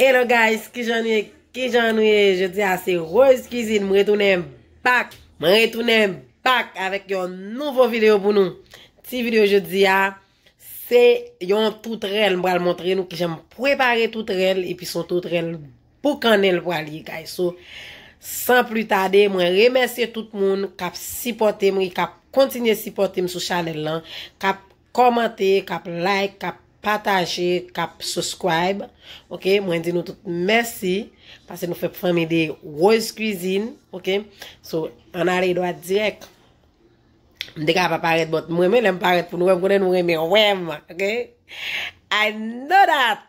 Hello guys, kijan nou ye, kijan nou ye, jodi a se Rose Cuisine, m retounen back, m retounen back avèk yon nouvo video pou nou, ti video jodi a, se yon toutrèl m pral montre nou kijan m prepare toutrèl, epi son toutrèl boukannen l pral ye guys, so san pli tade mwen remèsye tout moun kap sipòte m, kap kontinye sipòte m sou chanèl lan, kap kòmante, kap like, kap pataje, kap subscribe ok mwen di nou tout mèsi pase nou fè fanmi de Rose Cuisine ok so an ale dwat dirèk m te ka pa parèt bòt m renmen lè m parèt pou nou wè m konnen nou renmen wè m ok I know that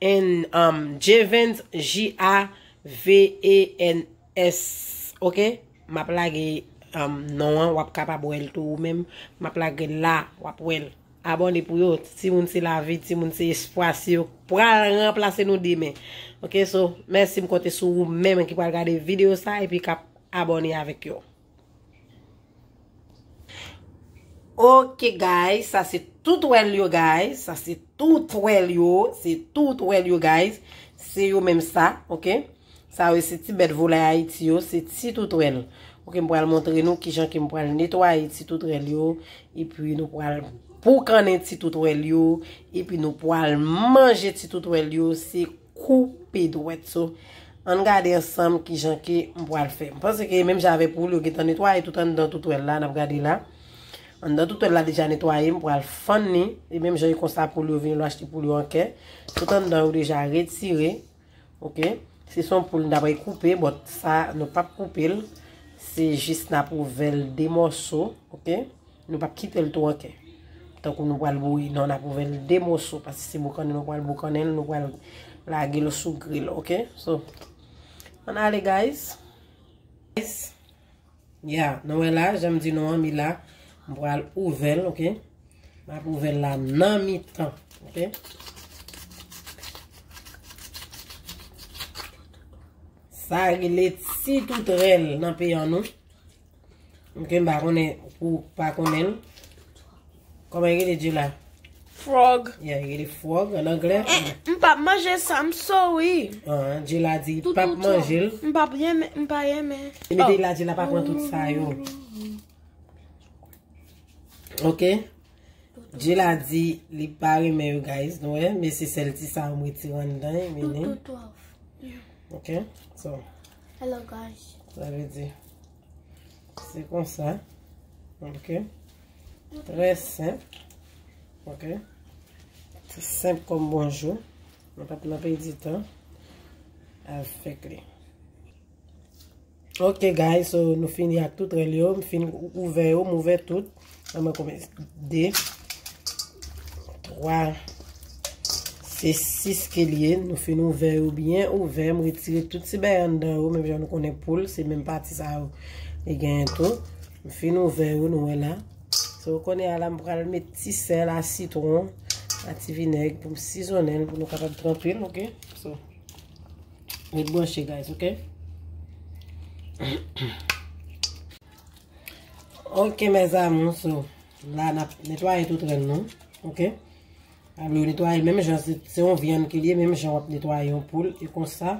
N um Jevens J-a-v-e-n-s ok map lage um non an wap kapab wèl tou ou menm map lagel la wap wèl abòne pou yo timoun se lavi timoun se espwa se yo k pral ranplase nou demen ok so mèsi m konte sou ou menm ki pral gade video sa epi kap abòne avèk yo. Ok guys, sa se tout wèl yo guys, sa se tout wèl yo, se tout wèl yo guys, se yo menm sa, ok, sa yo se ti bèt volay Haiti yo, se ti tout wèl, ok, m pral montre nou ki jan ke m pral netwaye ti tout wèl yo, e pi nou pral boukannen ti tout wèl yo, e pi nou pral manje ti tout wèl yo, se kou. koupe dwèt so ann gade ansanm kijan ke m pwal fè m panse ke menm jan avèk ou yo gentan netwaye tout anndan toutwèl la nap gade la anndan toutwèl la deja netwaye m pwal fann ni e menm jan e konsa poul yo vini lwa achte poul yo an kè tout anndan yo deja retire ok se son poul nap re koupe bòt sa nou pap koupe l se jis nap ouvèl de mòso ok. Nou pap kite l tou anke. Tankou nou pral bouyi non nap ouvè l de moso paske se boukannen nou pral boukannen l nou pral lage l sou gril ok so ann ale guys guys ya nou wè la janm di nou an mi la m pral ouvè l ok map ouvè l la nan mi tan ok sa rele ti toutrèl nan peyan nou. Ok, m pa konnen pou pa konnen l. Koman rele di la? Frog. Ya, rele frog an anglè. M pa manje sa, m sorry. An, di la di, m pa manje l. M pa pye men, m pa ye men. E mi di la di la pa pran tout sa yo. Ok? Di la di, li pa re men yo guys, nou e. Men se sel ti sa ou m reti wan dan, men ni. Tout, tout, tout. Ok? So. Hello guys. Sa vle di. Se konsa. Ok. Trè senp. Ok. Se senp kon bonjou. Mwen pat nan pey di tan. Al fek li. Ok guys. So nou fini ak tout relyo. Mwen fin ouve yo. Mwen ouve tout. An mwen konbyen? 2, 3, se 6 ke liye. Nou fin ouvè yo byen ouvè. M retire tout ti bè an dan yo. Menm jan nou konnen poul. Se menm pati sa yo. E gen yon tou. M fin ouvè yo nou wè la. Se yo konnen ala m pral met ti sèl a sitron. A ti vinèg pou m sizonnen. Pou nou kapab tranpe l ok. So. Met bwanche guys ok. Ok mes amour so la nap netwaye tout ren nou ok alo netwaye menm jan se yon vyann ke liye menm jan wap netwaye yon poul e konsa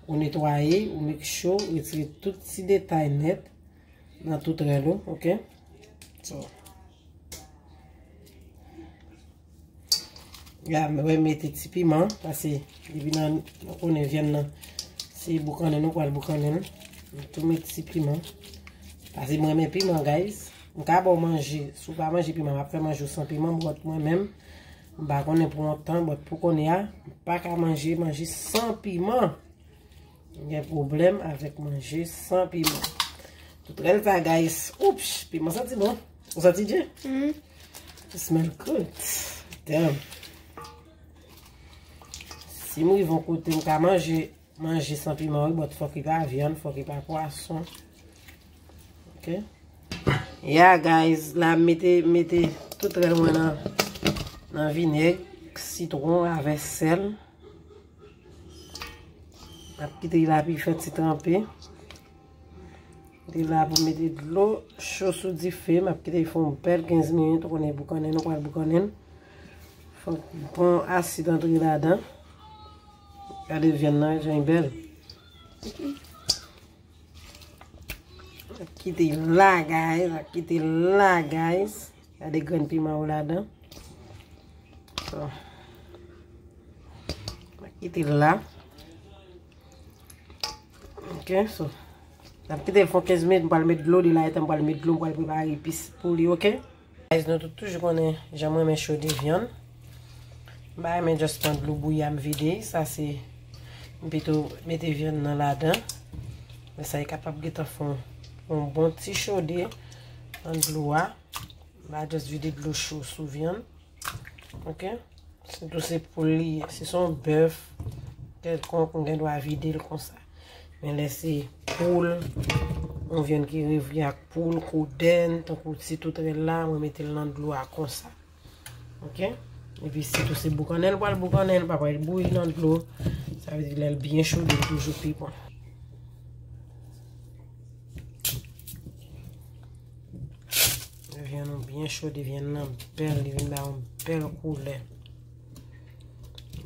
ou netwaye ou mek cho ou retire tout ti detay net nan tout ren nou ok so. Ya mwen mete ti piman. Pase depi nan nou konen vyen nan. Se boukannen nou pral boukannen. Mwen tou mete ti piman. Pase mwen mete piman guys. Mwen ka bon manje. Sou pa manje piman. Mwen apre manje ou san piman. Mwen mwen mwen mwen. Mwen pa konen pou an tan. Mwen pou konen ya. Mwen pa ka manje manje san piman. Gen problem avek manje san piman. Tout rel pa guys. Oups, piman santi bon. Ou santi dje? Mm. It smell good. Damn. Si mou yon kote m ka manje, manje san piman ou, but fok ki pa vyan, fok ki pa pwason. Ok. Yeah guys, la mete, mete tout rel mwen nan, nan vineg, sitron, avè sel. Mwen ap kite la pi fè ti tranpe. Li la pou mete dlo cho sou dife. Mwen ap kite li fon bel 15 minit. Ou konen boukanen, nou pral boukanen. Fon bon asid antre la dan. Gade vyen nan, jan yi bel. Kite la guys, ak kite la guys. Ya de grenn piman ou la dan. So. Ak kite la. Ok, so. Ak kite l fon 15 minit, m pal met dlo li la etan m pal met dlo, m pal prepare epis pou li, ok? Guys nou tout toujou konnen jan m renmen chode vyann. M pa renmen just pran dlo bouyi a m vide. Sa se m pito mete vyann nan ladan. Lè sa li kapab gentan fè yon bon ti chode nan dlo a. M pa just vide dlo cho sou vyann. Ok. Sitou se poul li ye. Si se yon bèf kèlkonk m gen dwa vide l konsa. Men lè se poul, yon vyann ki revyen ak poul, kodenn, tankou ti toutrel la, mwen mete l nan dlo a konsa. Ok? E pi si tou se boukannen l pral boukannen, l pa pral bouyi nan dlo. Sa vle di lè l byen chode l toujou pi bon. Vyann nou byen chode, vyann nan bèl, li vin ba yon bèl koulè.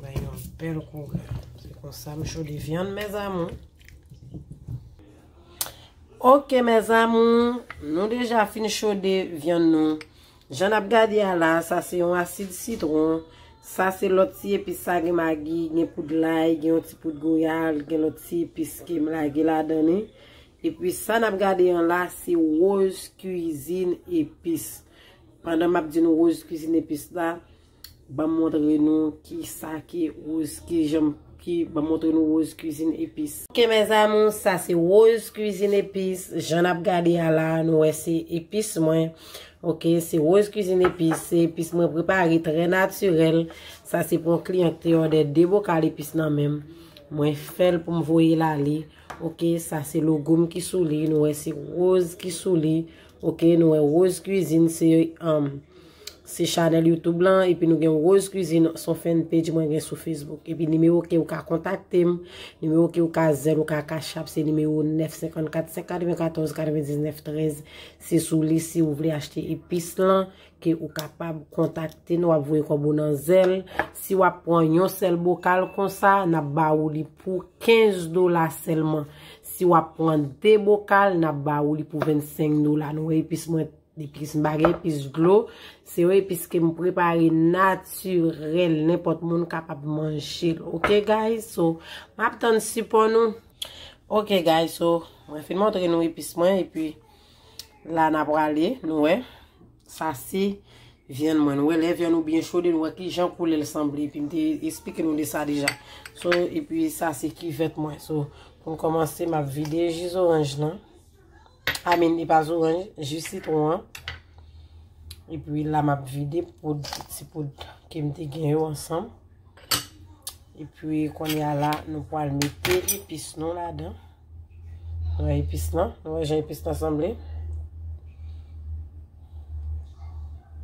Bay yon bèl koulè. Se konsa m chode vyann mèzamou. Ok mèzamou, nou deja fin chode vyann nou. Jan nap gade a la, sa se yon asid sitron. Sa se lòt ti epis sa gen magi, gen poud lay, gen yon ti poud goyave, gen lòt ti epis ke m lage ladan li. E pi sa nap gade an la, se rose cuisine epis. Pandan map di nou rose cuisine epis la. Banm montre nou ki sa ki rose ki janm ki banm montre nou rose cuisine epis. Ok mes amours sa se rose cuisine epis jan nap gade ya la nou wè se epis mwen ok se rose cuisine epis se epis mwen prepare trè natirèl sa se pou yon kliyan ki te òdè 2 bokal epis nan menm mwen fèl poum voyel ale ok sa se logo m ki sou li nou wè se rose ki sou li Ok nou wè rose cuisine se um se chanèl youtube lan epi nou gen rose cuisine son fèn page mwen gen sou facebook epi nimewo ke ou ka kontakte m nimewo ke ou ka zèn ou ka kachap se nimewo 9 54 5 94 99 13 se sou li si ou vle achte epis lan ke ou kapab kontakte nou ap voye kòb ou nan zèl si w ap pran yon sèl bokal konsa nap ba ou li pou 15 dola sèlman Si wap pran 2 bokal nap ba ou li pou 25 dola. Nou wè epis mwen, epis m pa gen epis dlo. Se yon epis ke m prepare natirèl. Nenpòt moun kapab manjel. Ok guys so map tann sipò nou. Ok guys so mwen fin montre nou epis mwen epi la na prale nou wè. Sa se vyann mwen. Nou wè lè vyann ou byen chode nou wè ki jan koulè l sanble. Epi m te esplike nou de sa deja. So epi sa se kivèt mwen. So pou m kòmanse m ap vide ji zoranj lan. Amen li pa zoranj, ji sitwon an. Epi la m ap vide poud, ti poud ke m te gen yo ansanm. Epi kounye a la nou pral mete epis nou ladan. Mwen epis nan. Mwen wè jan epis nan sanble.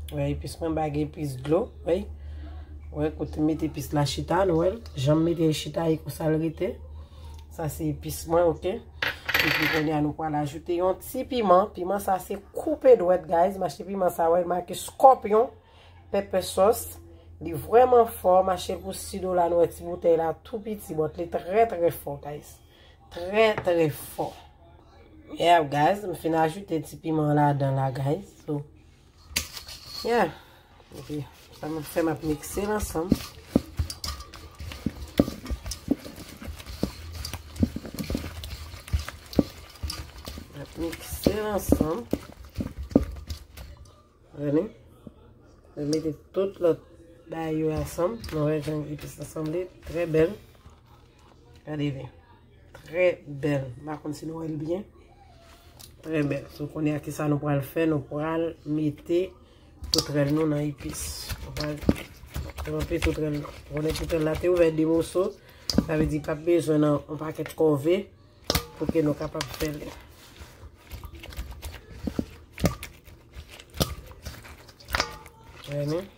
Mwen wè epis mwen bag epis dlo. Mwen wè kote met epis la chita. Mwen wè jan mwen mete chita e kousal rete. Sa se epis mwen ok. Mwen epis mwen ya nou kwa la ajoute yon ti piman. Piman sa se koupe dwet guys. Mwen achte piman sa wè. Mwen ake scorpion. Pepe sos. Li vwèman fò. Mwen achte pou 6 dola. Mwen wè ti boutey la tou piti. Mwen tle tre tre fò guys. Trè trè fò. Yeah guys, m fin ajoute ti piman ladan la guys. So, yeah. Ok, sa m ap fè m ap mikse l ansanm. M ap mikse l ansanm. Veni. M mete tout lòt bay yo ansanm. M wè jan epis la sanble. Trè bèl. Gade vin. Trè bèl. M pa konn si nou wè l byen. Trè bèl. So kounye a ki sa nou pral fè? Nou pral mete toutrèl nou nan epis. Nou pral tranpe toutrèl nou. Konnen toutrèl la te ouvè de moso. Sa ve di pa p bezwen nan yon pakèt kòve pou ke nou kapab fè l. Gade vin.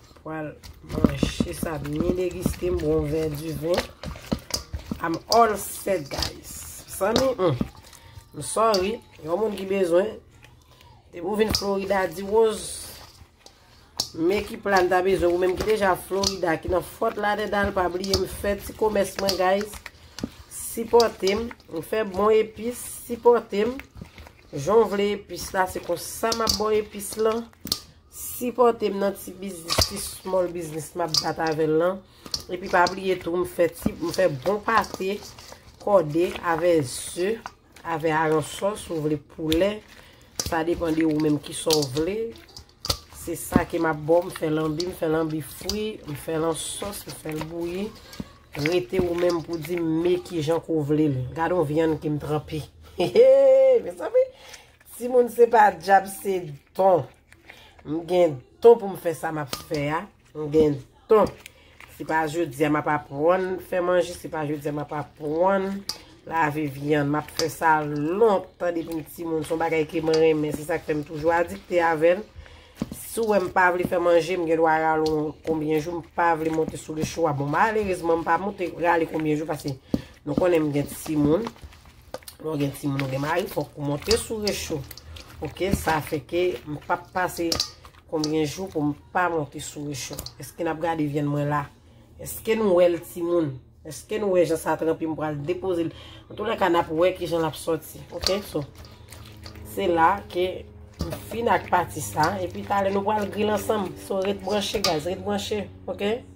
Pral manje sa byen degiste m bon vè di ven. I'm all set guys. Samy, m sorry, yon moun ki bezwen. Te pou vin Florida di woz. Men ki plan ta bezwen, ou menm ki deja Florida, ki nan fòt la de dal pa bliye m fè ti komès mwen guys. Sipote m, m fè bon epis, sipote m. Jan w vle epis la, se kon sa m ap bo epis lan. Sipòtem nan ti biznis ti small biznis map bat avèl lan epi pa bliye tou m fè ti m fè bon pate kòde avè ze avè aransò si w vle poulè sa depan de ou menm kisa w vle se sa ke map baw m fè lanbi m fè lanbi fri m fè lan sòs m fèl bouyi rete ou menm pou di m me kijan ke w vle l gade yon vyann ke m tranpe heheheh mezanmi. Timoun se pa djab se don. M gen don pou m fè sa m ap fè a. M gen don. Se pa jodi a m ap aprann fè manje, se pa jodi a m ap aprann lave vyann. M ap fè sa lontan depi m timoun. Se yon bagay ke m renmen. Se sa k fè m toujou adikte avè l. Si w wè m pa vle fè manje, m gen dwa rale w konbyen jou m pa vle monte sou recho a. Bon, malerezman m pa monte rale konbyen jou paske nou konnen m gen timoun. Lè w gen timoun ou gen mari fòk ou monte sou recho. Ok, sa fè ke m pa pase konbyen jou pou m pa monte sou recho. Eske n ap gade vyann mwen la? Eske nou wè l timoun? Eske nou wè jan sa tranpe m pou al depoze l? An tou lè ka n ap wè ki jan l ap soti. Ok, so. Se la ke m fin ak pati sa. E pi talè nou pral gril ansanm. So ret branche guys, ret branche. Ok.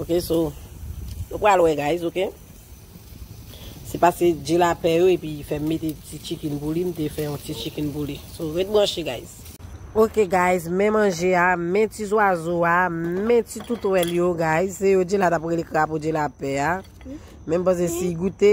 Ok so Nou pral wè guys ok Se pase dje la pè yo epi fèm mete ti chicken pou li mte fè yon ti chicken pou li So ret branche guys. Ok guys men manje a men ti zwazo a men ti toutwèl yo guys se yo dje la tap rele krapo dje la pè a men mpase si goute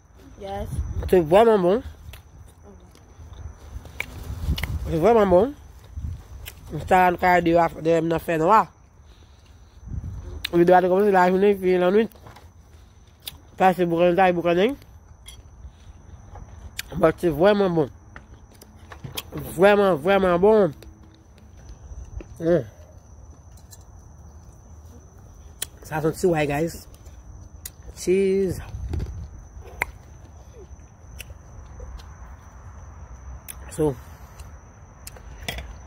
Se vwèman bon. Se vwèman bon. Mwen ta an kare de wap de m nan fè nwa. Ou de wap de kòmè se la jounen ki yon anouit. Ta se boukan ta yon boukan nèy. Mwen se vwèman bon. Vwèman vwèman bon. Mmm. Sa son ti way guys. Cheese. So.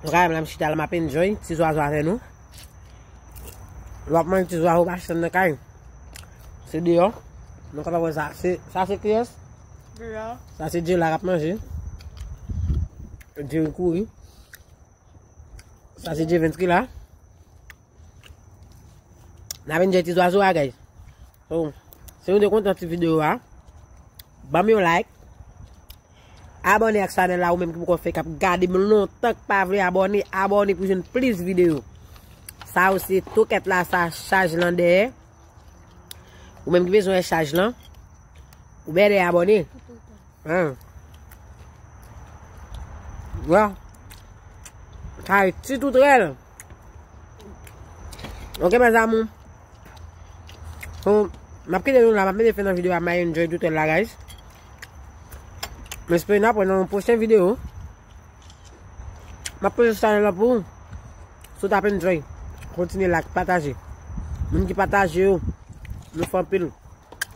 Nou ka yon la mchita la map enjoy. Ti zwa zwa vè nou. Lòk man ti zwa ou pa chan nan kay. Se di yo. Nou ka pa wè sa. Sa se kiyes? Di yo. Sa se di yo la rap manje. Di yo kou yi. Sa se Jevens ki la. Na vin jeti zwazo a guys. So, si nou te kontan ti video a, bam yon like. Abone ak chanel la ou menm ki pou kon fè kap gade m lontan k pa vle abone, abone pou jwenn plis video. Sa ou se toket la sa chaj lan dèyè. Ou menm ki bezwen wè chaj lan, ou bè de abone. An. Wa. Kay ti tout rèl. Ok mè zamou. Ou, m ap kite nou la, m ap mete fè nan videyo a, m a enjoy tout rèl la guys. M espere nou apre nan yon pwochen videyo. Map poze chanel la pou ou. Si ou tap enjoy, kontinye like, pataje. Moun ki pataje yo, nou fè anpil.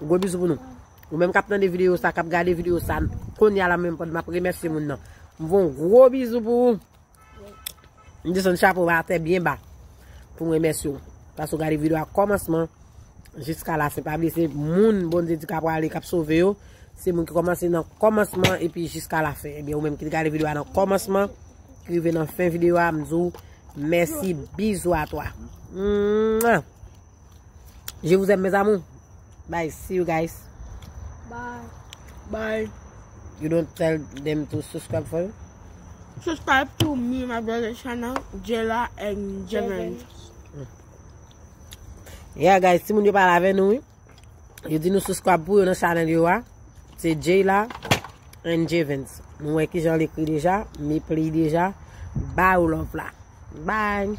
Gwo bizou pou nou. Ou menm kap tande video sa, kap gade video sa, konya la menm map remèsye moun nan. Mwen fè yon gwo bizou pou ou. M desann chapo ba atè byen ba. pou m remèsye w. Paske w gade video a kòmansman jiska la fen. Pa bliye se moun Bondye di ka prale, kap sove yo. Se moun ki kòmanse nan kòmansman epi jiska la fen. Ebyen ou menm ki te gade video a nan kòmansman, ki rive nan fen video a, m di w mèsi. Bizou a twa. Mouah! Je vous aime mes amour. Bye. See you guys. Bye. Bye. You don't tell them to subscribe for you? Subscribe to me, my brother channel, Jela and Jevin. Yeah guys, si moun yo pa lave nou, yo di nou subscribe pou yo nan channel yo a, se Jela and Jevin. Nou wè ki jan li kri deja, mi pli deja, bye ou love la. Bye.